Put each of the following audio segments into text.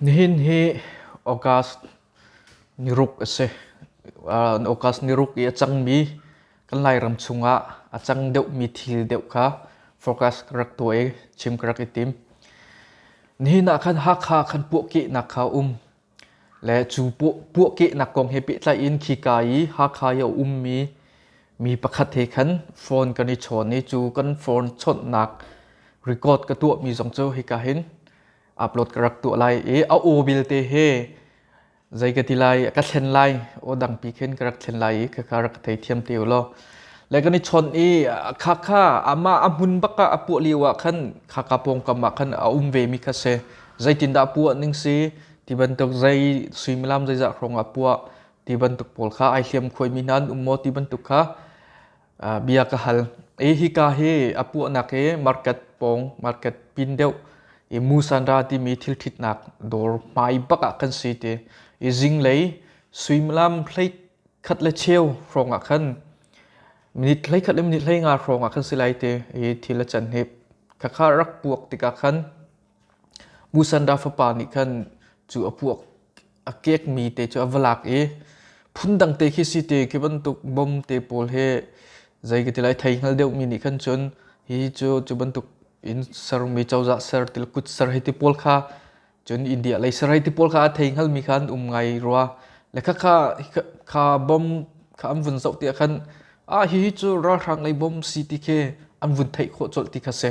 Nihin hi August ni ruk a si. August ni ruk i a cangmi kan Lairam chungah a cang deuhmi thil deuh kha focus ka rak tuah i chim ka rak i tim. Nihin ah khan Hakha kan puahkehnak kha a um. Le cu puahkehnak kong he pehtlaihin khika i Hakha i a ummi mi pakhat he khan phone kan i chawn i cu kan phone chawnhnak record ka tuahmi zong cu hika hin upload ka rak tuah lai i a aw vialte he zei ka ti lai ka thlen lai aw dangpi khin ka rak thlen lai i khakha rak ka thei thiam te law le kan i chawnh i khakha amah a hmun bak ah a puah lio ah khan khaka pawngkam ah khan a um vemi kha si zeitindah puah ning si ti bantuk zei suimilam zeizah hrawngah puah ti bantuk pawl kha ai hliam khuaimi hna an um maw ti bantuk kha bia ka hal i hika hi a puahnak hi market pawng market pin deuh i musanra timi thil ṭhitnak dawr hmai bak ah kan si ti i zinglei suimilam hlei khat le cheu hrawngah khan minute hlei khat le minute hlei nga hrawngah khan si lai ti i thil a can hip khakha rak puak tikah khan Musanda fapa nih khan cu a pu a kekmi te cu a va lak i phundang te khi si te khi bantuk bom te pawl hi zei ka ti lai thei hngal deuhmi nih khan cun hi cu cu bantuk in sermi cozah ser til kut ser hei ti pawl kha cun India lei ser hei ti pawl kha a thei hngalmi kha an um ngai rua le khakha kha bom kha an vun zoh tiah khan ah hihi cu ralhrang lei bom si ti khi an vun theih khawh colh ti kha si.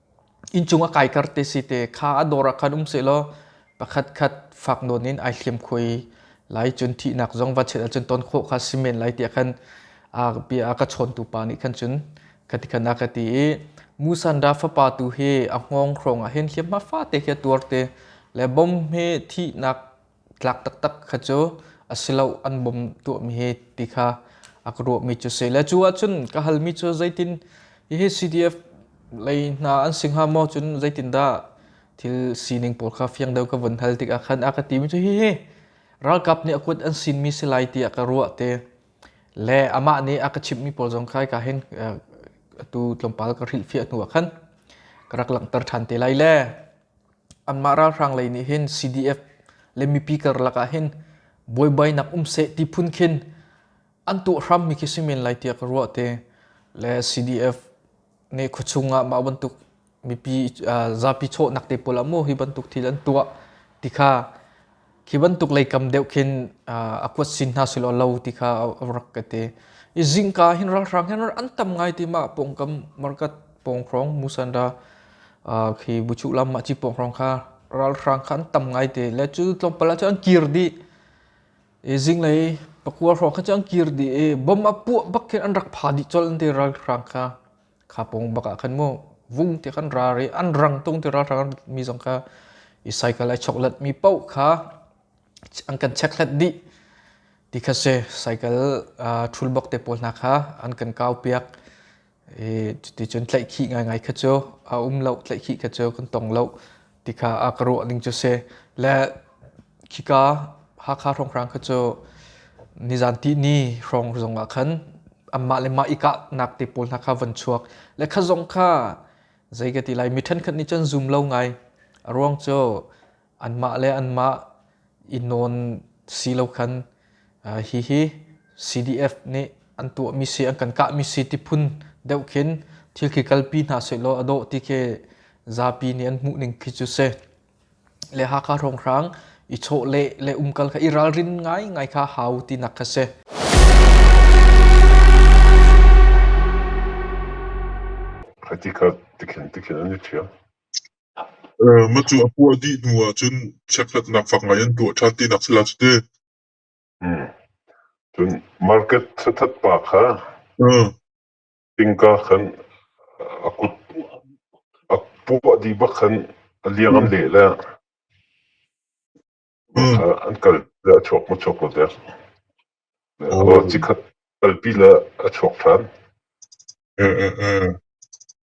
Inncung a kaikar te si te kha a dawr ah khan um sehlaw pakhat khat fak nawn in ai hliam kho i lai cun thihnak zong va chet ahcun ton khawh kha si men lai tiah khan a bia a ka chawntu pa nih khan cun ka ti khan a ka ti i Musanra fapa tu hi a hngawng hrawng ah hin hliamhma fate khi a tuar te le bom hi thihnak tlak taktak kha cu a si lo an bom tuahmi hi ti kha a ka ruahmi cu si le cu ahcun ka halmi cu zeitin hihi CDF lei hna an si hnga maw cun zeitin dah thil sining pawl kha fiang deuh ka vun hal tikah khan a ka timi cu hihi ralkap nih a kuat an sinmi si lai tiah ka ruah te le amah nih a ka chimhmi pawl zong kai ka hin atu tlawmpal ka hrilhfiah hnu ah khan ka rak langhter ṭhan te lai le anmah ralhrang lei nih hin CDF le mipi karlak ah hin buaibainak um seh ti phun khin an tuah hrammi khi si men lai tiah ka ruah te le CDF nih khuachung ah mah bantuk mipi zapi chawhnak te pawl ah mu hi bantuk thil an tuah ti kha Khi bantuk leikam deuh khin a kuat sin hna silo lo ti kha rak ka ti. I zingka hin ralhrang hin an tam ngai ti ma pongkam market pongkrong musanda khi buchu lam ma chi pongkrong kha ralhrang kha an tam ngai te le cu tlawmpal ah an kir di i zinglei pakua hrawng kha an kir di i bom a puah bak khin an rak pha dih col an ti ralhrang kha kha pong bak ah khan mu vung ti kan ra re an rang tung ti ra hrang mi zong kha i cycle ai chok lat mi poh kha an kan check hlat di ti kha se cycle thul bok te pawl hna kha an kan kau piak i cuti cun tlaih khi ngai ngai kha cu a um lo tlaih khi kha cu kan tong lo tikha a ka ruah ning cu si le khika Hakha hrawnghrang kha cu nizan ti ni hrawng zong ah khan anmah le mah i kahnak te pawl hna kha van chuak le kha zong kha zei ka ti lai mi ṭhenkhat nih cun zum lo ngai a ruang cu anmah le anmah i nawn si lo khan hihi CDF nih an tuahmi si an kan kahmi si ti phun deuh khin thil khi kalpi hna sehlaw a dawh ti khi zapi nih an hmuhning khi cu si le Hakha Hrawnghrang i chawh le le umkal kha i ralrin ngai ngai kha hau tinak kha si critical tikhin tikhin an i ṭhial Macu a puah dih hnu ahcun chekhlatnak fak ngai an tuah ṭhan tinak sila cu ti. Cun market thathat pa kha innka khan a kut a puah dih bak khan a liang an leh le an kal le a chuak maw chuak lo dek. Cikhat kalpi le a chuak ṭhan.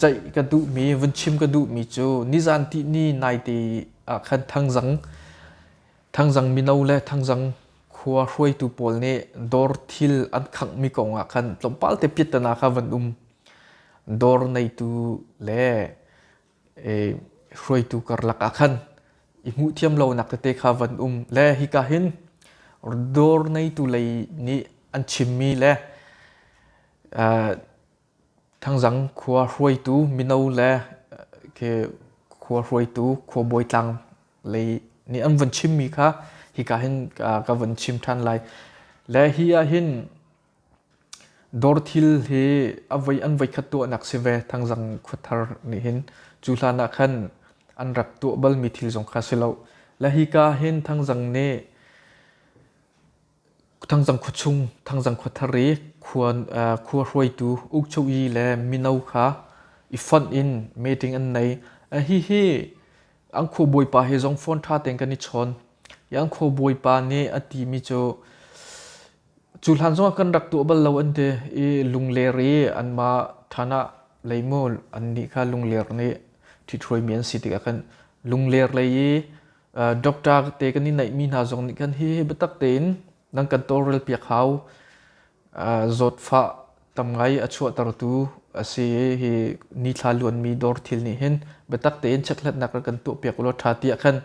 ceih ka duhmi vun chim ka duhmi cu nizan ti ni naite ah khan thangzang thangzang mino le thangzang khua hruaitu pawl nih dawr thil an khanghmi kong ah khan tlawmpal te pittana kha van um dawr neitu le hruaitu karlak ah khan i hmuh thiam lo nak tete kha van um le hika hin dawr neitu lei nih an chimmi le Thangzang khua hruaitu mino le khua hruaitu khuabawi tlang lei nih an vun chimmi kha hika hin ka vun chim ṭhan lai. Le hi ahhin dawr thil hi an voi khat tuahnak si ve Thangzang khua thar nih hin. Cu hlan ah khan an rak tuah balmi thil zong kha si lo. Le hika hin Thangzang nih Thangzang khua chung, Thangzang khua thar i khua hruaitu ukcho'i le mino kha i fonh in meeting an nei. Hihi an khuabawipa he zong phone ṭha tein kan i chawn. I an khuabawipa nih a timi cu, cu hlan zongah kan rak tuah bal lo an ti i lungler i anmah ṭhan ah lei mu annih kha lungler nih ṭhithruaimi an si tikah kan lungler lei i doctor te kan i neihmi hna zong nih khan hi biatak tein nan kan tawlrel piak hau zawtfah tam ngai a chuahtertu a si hi ni thla luanmi dawr thil nih hin biatak tein checkhlatnak kan tuahpiak ulaw ṭha tiah khan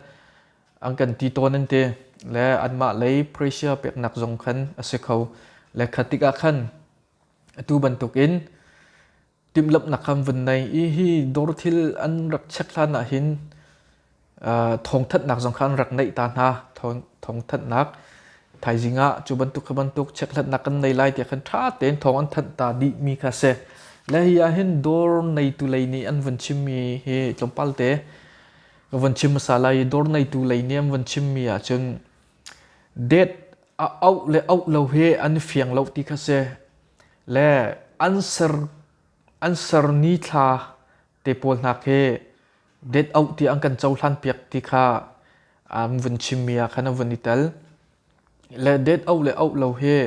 an kan ti tawn an ti le anmah lei pressure peknak zong khan a si kho le kha tikah khan atu bantukin timhlamhnak kan vun nei i hi dawr thil an rak check hlan ah hin thawngthanhnak zong kha an rak neih ta hna thawngthanhnak thaizing ah cu bantuk kha bantuk checkhlatnak kan nei lai tiah khan ṭha tein thawng an thanh ta dihmi kha a si le hi ah hin dawr neitu lei nih an vun chimmi hi tlawmpal te ka vun chim hmasa lai i dawr neitu lei nih an vun chimmi ahcun date a auh le auh lo hi an i fiang lo ti kha si le an ser ni thla te pawl hna khi date auh ti an kan cohlan piak ti kha an vun chimmi ah khan a vun i tel. Le date auh le auh lo hi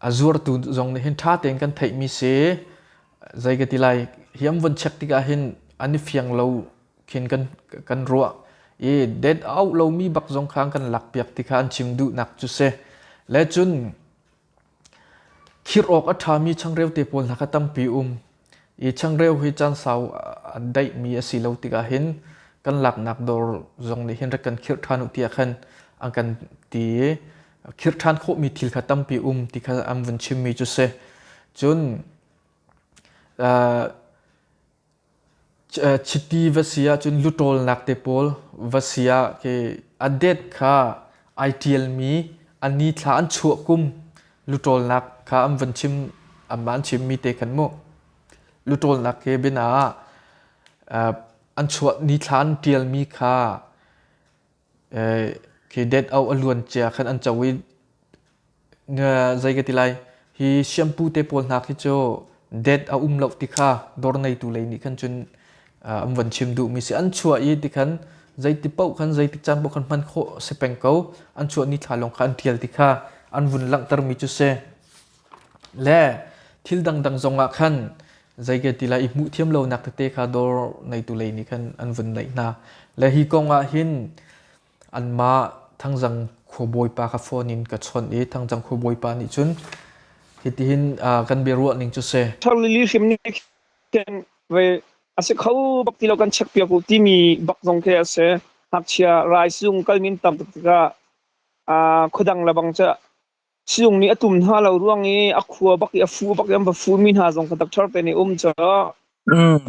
a zuartu zong nih hin ṭha tein kan theihmi si. Zei ka ti lai, hi an vun check tikah hin an i fiang lo khin kan ruah. I date auh lomi bak zong kha an kan lak piak ti kha an chim duhnak cu si. Le cun Khirh awk a ṭhami changreu te pawl hna kha tampi um i changreu hi caan sau a daihmi a si lo tikah hin kan laknak dawr zong nih hin rak kan khirh ṭhan u tiah khan an kan ti i khirh ṭhan khawhmi thil kha tampi um ti kha an vun chimmi cu si. Cun Chiti va si ahcun luṭawlnak te pawl va si ah a det kha ai ṭialmi a nithla an chuah kum luṭawlnak kha an van chim amah an chimmi te kan hmuh. Luṭawlnak he biana ah an chuah nithla an ṭialmi kha khi det au a luan cia khan an co i zei ka ti lai hi shampoo te pawl hna khi cu det a um loh ti kha dawr neitu lei nih khan cun an van chim duhmi si an chuah i ti khan zeiti paoh khan zeitik caan paoh khan hman khawh si peng ko an chuah ni thla lawng kha an ṭial ti kha an vun langhtermi cu si. Le thil dangdang zongah khan zei ke ti lai i hmuh thiam lonak tete kha dawr neitu lei nih khan an vun naih hna. Le hi kongah hin anmah thangzang khuabawipa kha phone in ka chawnh i thangzang khuabawipa nih cun hitihin uh, kan biaruah ning cu si tharli li hrim nih khin ve asi kho bak ti lo kan check piak u timi bak zong khi ase ngakchia rai sung kal min tam tikah a khodang lebang ca Sizung nih a tum hna lo ruang i a khua bak i a fu bak i an va fumi hna zong kha doctor te nih um cu.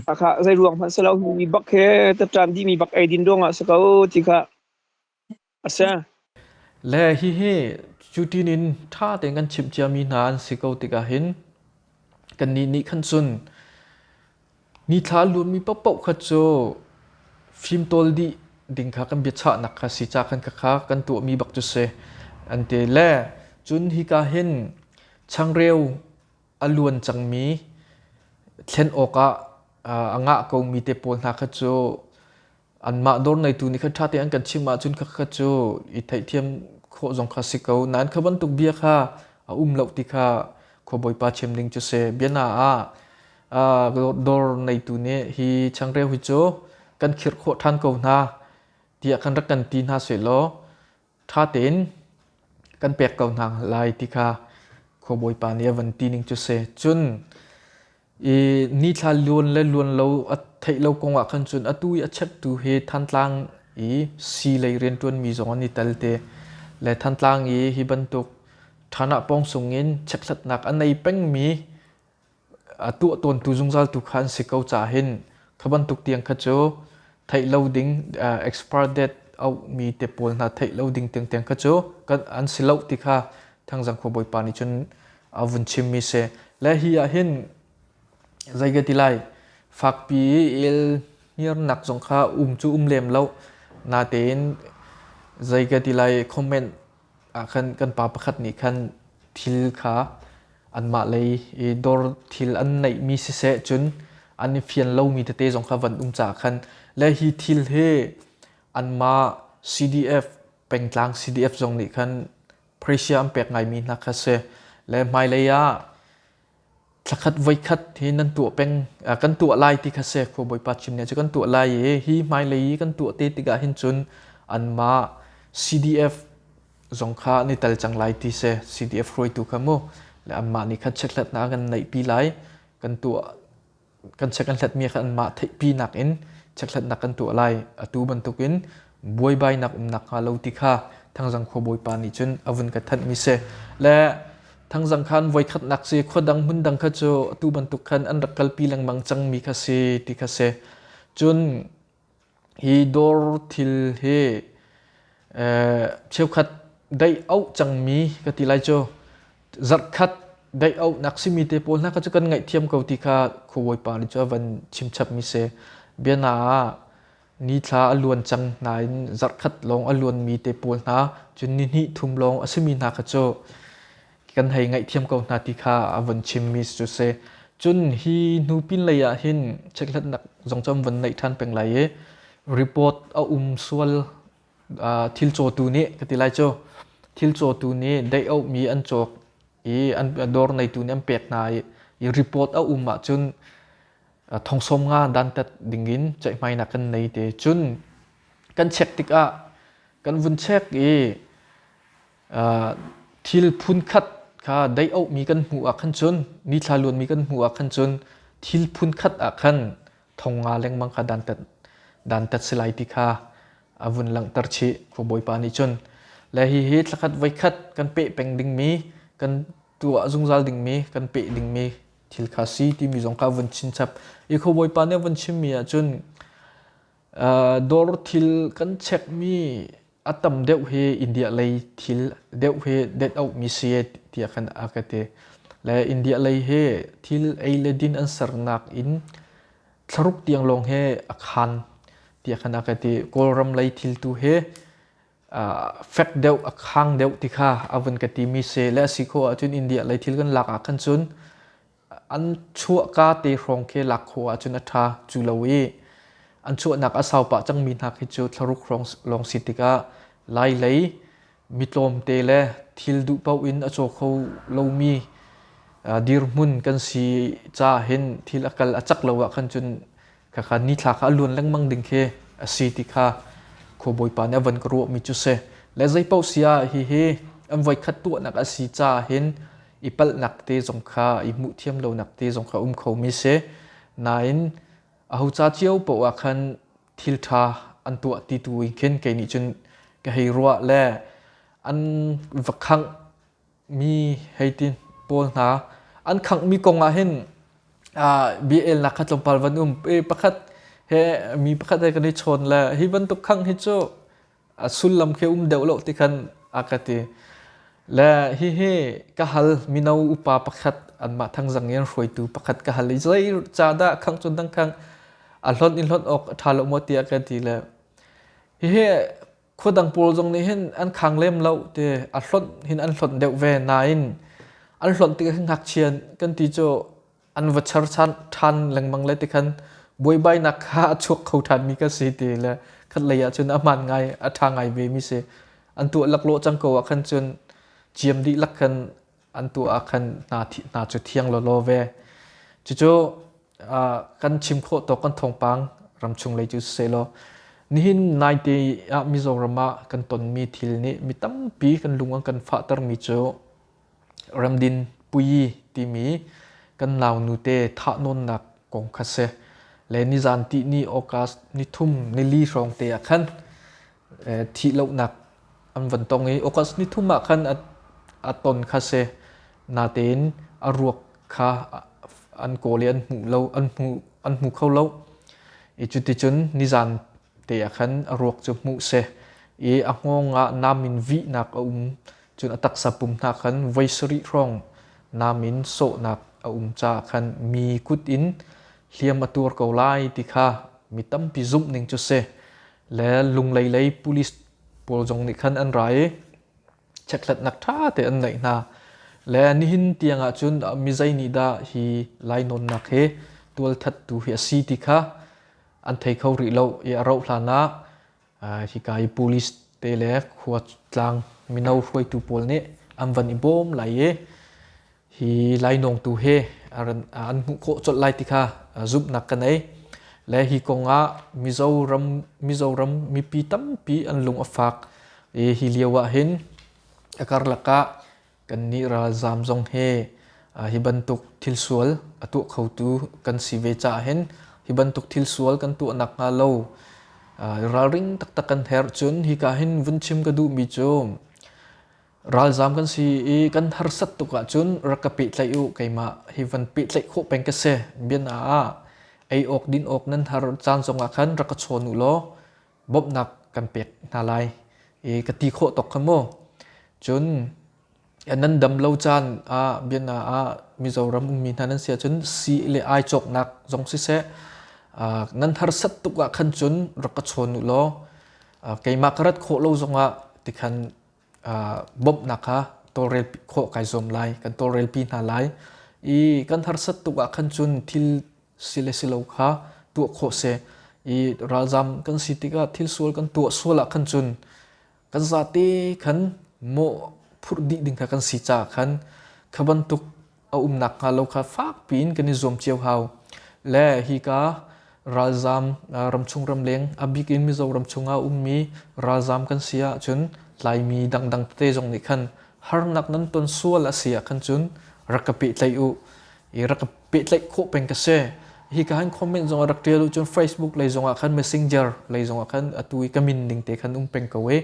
Hakha zeiruang hmanh si lo hi mi bak he tatṭan dihmi bak eidin ruangah a si ko ti kha a si. Le hihi cutin in ṭha tein kan chimh ciami hna an si ko tikah hin kannih nih khan cun Nithla lunmi paohpaoh kha cu fimtawl dih ding kha kan biachahnak kha si ca kan kha kan tuahmi bak cu si an ti le cun hika hin changreu a luan cangmi thlen awkah a ngah komi te pawl hna kha cu anmah dawr neitu nih kha ṭha tein an kan chimh ahcun kha kha cu i theihthiam khawh zong kha si ko nain kha bantuk bia kha a um lo ti kha khuabawipa chim ding cu si biana ah dawr neitu nih hi changreu hi cu kan khirh khawh ṭhan ko hna tiah khan rak kan ti hna sehlaw ṭha tein kan pek ko hna lai ti kha khuabawipa nih a van ti ning cu si. Cun i ni thla luan le luan lo a theih lo kong ah khan cun atu i a cheptu hi Thantlang i sii lei rianṭuanmi zong an i tel te. Le Thantlang i hi bantuk ṭhanah pawng sungin chekhlatnak a nei pengmi a tuah tawntu zungzal tu kha an si ko ca hin kha bantuk tiang kha cu theih lo ding expire date auhmi te pawl hna theih lo ding tiang tiang kha cu kan an si lo ti kha thangzang kho bawipa nih cun a vun chimmi se le hi ah hin zeige ti lai fakpi il hniarnak zong kha um cu um lem lo natein zeige ti lai comment ah khan kan pa pakhat nih khan thil kha anmah lei i dawr thil an neihmi siseh cun an i fian lomi tete zong kha van um caah khan le hi thil hi anmah CDF pengtlang CDF zong nih khan Prussia an pek ngaimi hna kha a si le hmailei ah Thlakhat voikhat hi nan tuah peng kan tuah lai ti kha si. Khua Bawipa cim nih cu kan tuah lai i hi hmailei i kan tuah te tikah hin cun anmah CDF zong kha ni tal cang lai ti si. CDF hruaitu kha mu le anmah nih khan chekhlatnak kan neihpi lai. Kan tuah kan check an hlatmi kha anmah theihpinak in checkhlatnak kan tuah lai atu bantukin buaibainak um nakhnga lo ti kha thangzang khuabawipa nih cun a vun ka thanhmi si le thangzang khan voikhatnak si khua dang hmun dang kha cu atu bantuk khan an rak kalpi lengmang cangmi kha si ti kha si cun Hi dawr thil hi cheukhat daih auh cangmi ka ti lai cu. Zarhkhat daih auhnak simi te pawl hna kha cu kan ngaihthiam ko ti kha khuabawipa nih cu a van chimchapmi si. Bia hna ah ni thla a luan cang hna in zarhkhat lawng a luanmi te pawl hna cun ni hnih thum lawng a simi hna kha cu kan hei ngaihthiam ko hna ti kha a vun chimmi cu si. Cun hi hnu pinlei ah hin checkhlatnak zong cu an vun neih ṭhan peng lai i report a um sual uh, thil cawtu nih ka ti lai cu thil cawtu nih dei auhmi an cawk i an dawr neitu nih an pek hna i, i report a um ahcun thongsawm nga dantat dingin ceihmainak kan nei te cun kan check tikah kan vun check i thil phunkhat kha dei auhmi kan hmuh ah khan cun mi thlaluanmi kan hmuh ah khan cun thil phunkhat ah khan thong nga lengmang kha dantat dantat si lai ti kha a vun langhter chih khu bawipa nih cun le hi hi thlakhat voikhat kan peh peng dingmi kan tuah zungzal dingmi kan peh dingmi thil kha si timi zong kha vun chinchap i kho bawipa nih vun chimmi ah cun Dawr thil kan chekmi a tam deuh hi India lei thil deuh hi det auhmi si tiah kan a ka ti. Le India lei hi thil ei le din an sernak in thlaruk tiang lawng he a khan tiah kan a ka ti. Kawlram lei thil tu hi fek deuh a khang deuh ti kha a vun ka timi si. Le a si khawh ahcun India lei thil kan lak ah khan cun An chuahka te hrawng khi lak khawh ahcun a ṭha cu lo i an chuahnak a sau pah cangmi hna khi cu thlaruk hrawng lawng si tikah lailei mi tlawmte le thil duh paoh in a caw kho lomi dirhmun kan si caah hin thil a kal a cak lo ah khan cun Khakha nithla kha a luan lengmang ding khi a si ti kha khuabawipa nih a van ka ruahmi cu si. Le zei paoh si ah hihi an voikhat tuahnak a si caah hin i palhnak te zong kha i hmuh thiam lonak te zong kha um khomi si. Nain aho ca cio paoh ah khan thil ṭha an tuah ti tu in khin kei nih cun ka hei ruah le an va khangh mi heitin pawl hna an khanghmi kong ah hin biaelnak kha tlawmpal van um i pakhat he mi pakhat he kan i chawn le hi bantuk khang hi cu sullam khi um deuh lo ti khan a ka ti le hihi ka hal mino upa pakhat anmah thangzang i an hruaitu pakhat ka hal i zei ca dah khang cun dang khang a hlon in hlon awk a ṭha lo maw ti a ka ti le hihi khua dang pawl zong nih hin an khang lem lo te a hlonh hin an hlonh deuh ve nain an hlonh tik hin ngakchia kan ti cu an va char ṭhan lengmang le tikhan buaibainak kha a chuak kho ṭhan mi ka si ti le khat lei ah cun a hmaan ngai a ṭha ngai ve mi si an tuah laklawh cang ko ah khan cun ciam dih lak khan an tu ah khan hna hna cu thiang lawlaw ve cucu kan chim khawh to kan thawngpang ramchung lei cu siseh law nihin naite ah mizoram ah kan tonmi thil nih mi tampi kan lung an kan fahtermi cu ramdin pui timi kan nau nute thah nawnnak kong kha si le nizan ti ni august ni thum ni li hrawng te ah khan thih lonak an van tong i August ni thum ah khan a, a ton kha se natein a ruak kha an kawl i an hmu lo an hmu an hmu kho lo i cuticun nizan te ah khan a ruak cu hmuh se i a ngong ah nam in vihnak a um cun a taksa pum hna khan voi sarih hrawng nam in sawhnak a um caah khan mi kut in hliam a tuar ko lai ti kha mi tampi zumh ning cu si le Lunglei lei police pawl zong nih khan an ra i chekhlatnak ṭha te an neih hna. Le nihin tiang ahcun mi zei nih dah hi lainawnnak hi tualthattu hi a si ti kha an thei kho rih lo i a rauh hlan ah hika i police te le khua tlang mino hruaitu pawl nih an van i bawm lai i hi lainawng tu he an hmuh khawh colh lai ti kha zumhnak ka nei le hi kongah mizoram mizoram mipi tampi an lung a fak i hi lio ah hin a karlak ah kan nih ralzam zong he hi bantuk thil sual a tuah khotu kan si ve caah hin hi bantuk thil sual kan tuah nak hnga lo ralring taktak kan herh cun hi ka hin vun chim ka duhmi cu ralzam kan si i kan harsat tuk ahcun rak ka pehtlaih u keimah hi van pehtlaih khawh peng ka si biana ah ei awk din awk nan har caan zongah khan rak ka chawn u law bawmhnak kan pek hna lai i ka ti khawh tok khan mu cun nan dam lo caan ah biana ah mizoram ummi hna nan si ahcun si le ai cawknak zong siseh nan harsat tuk ah khan cun rak ka chawn u law keimah ka rat khawh lo zongah tikhan bawmhnak kha tawlrel khawh kai zuam lai kan tawlrelpi hna lai i kan harsat tuk ah khan cun thil si le si lo kha tuah khawh seh i ralzam kan si tikah thil sual kan tuah sual ah khan cun kan zate khan mawh phurh dih ding kha kan si caah khan kha bantuk a um nakhnga lo kha fakpi in kan i zuam cio hau. Le hika ralzam ramchung ramleng abik in Mizo ramchung ah ummi ralzam kan si ahcun tlaimi dangdang tete zong nih khan harnak nan ton sual a si ahkhan cun rak ka pehtlaih u i rak ka pehtlaih khawh peng ka si hi ka han comment zong rak tial u cun facebook lei zongah khan messenger lei zongah khan atu i ka min ning te khan um peng ko e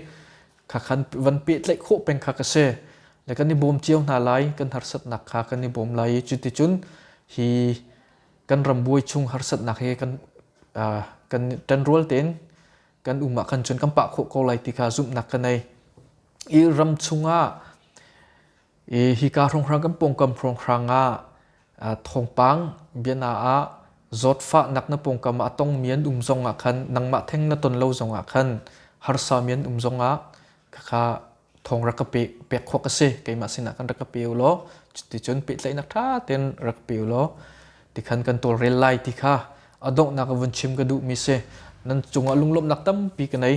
kha khan van pehtlaih khawh peng kha ka si le kan i bawm cio hna lai kan harsatnak kha kan i bawm lai i cuticun hi kan ram buai chung harsatnak he kan kan ṭanrual tein kan um ah khan cun kan pah khawh ko lai ti kha zumhnak ka nei i ram chungah i hi ka hrongrang kan pawngkam hrongrang ah Thawngpang bia na ah zawtfahnak na pawngkam ah a tongmi an um zong ah khan nangmah theng na ton lo zong ah khan harsami an um zong ah khakha thawng rak ka pek pek khawk a si keimah sinah khan rak ka pe u law cuticun pehtlaihnak ṭha tein rak ka pe u law tikhan kan tawlrel lai ti kha a donghnak vun chim ka duhmi si nan cungah lunglawmhnak tampi ka nei